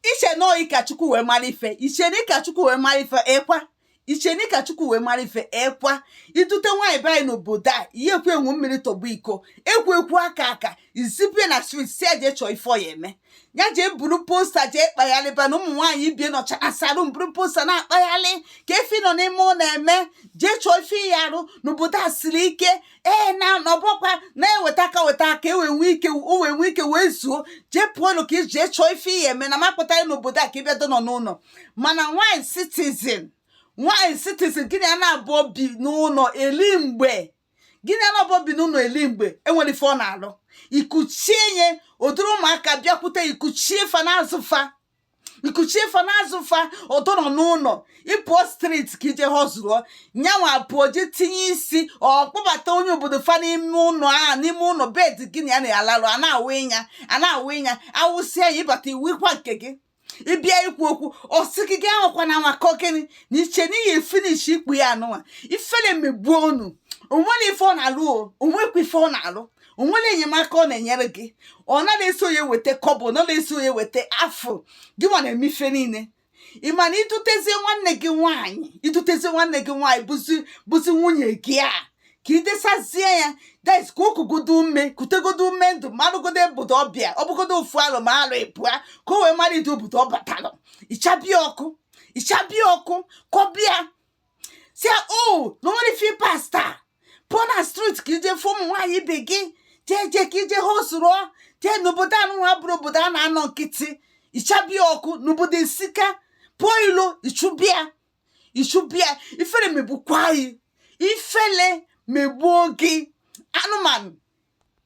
iche na ọ gị ka chukwu wee mara ife iche na ịka chukwu wee mara ife ekwa iche na ịka chukwu wee mara ife ekwa idute nwaanyị be anyị n'obodo a ihe ekwu enwu mmiri tọgbọ iko ekwu ekwu aka aka izipụ ya na street si ya jee chọọ ife ọ ya eme ya jee buru poster jee kpagharịba na ụmụ nwaanyị ibe ya na-achọsa ọrụ buru poster na-akpagharị kee ife ị nọ n'ime ụlọ eme jee chọọ ife ị ya arụ n'obodo a siri ike ee na ọ bụkwa na-eweta aka weta aka ewe nwee ike o wee nwee ike wee zuo jee pụọnụ ka iji jee chọọ ife ị ya eme na m akpọtarọ n'obodo a ka ịbịa dọnọ n'ụlọ mana nwanyị citizen nwanyị citizen gị na ya na-abụ obi n'ụlọ eli mgbe gị na ya na-abụ obi n'ụlọ eli mgbe enwere ife ọ na-alụ ikuchie nya o duru ụmụaka bịakwute ikuchie fa na-azụ fa ikuchie fa na-azụ fa ọ dọnọ n'ụlọ ịpụọ street ka ije hustle nyanwa pụọ je tinye isi ọ kpọbata onye obodo fa n'ime ụlọ a n'ime ụlọ bed gị na ya na-alarụ a na-awụ nya a na-awụ nya awụsịa ya ịbata ịwụkwa nke gị ịbịa ikwu okwu ọsị gị gị anwakwana anwa kọ gịnị na iche na ị ya finish ikpu ya anụnwa ifele megbuo unu onwere ife ọ na-alụ o onwekwa ife ọ na-alụ o nwere enyemaka ọ na-enyere gị ọ naghị eso ya weta kọbọ ọ naghị eso ya weta afụ gị nwa na-eme ife niile ị ma na idutezie nwanne gị nwaanyị idutezie nwanne gị nwaanyị bụzi bụzi nwunye gị a ka ị desazie ya guys ka o kugodo ume kutegodo ume ndụ marụgodo obodo ọbịa ọ bụgodo ofu arọ ma arọ ịbụa ka o wee mara ụdị obodo ọ batalụ ịchaba ya ọkụ ịchaba ya ọkụ ka ọ bịa si ya o oh, na onwere fi pasta pụọ na street ka ije fụ ụmụ nwaanyị ibe gị jee jee ka ije hustle jee n'obodo anụwa abụrọ obodo a na-anọ nkịtị ịchaba ya ọkụ n'obodo esika pụọ ilo ịchụba ya ịchụba ya ifele megbukwa gị ifele megbuo gị anụmanụ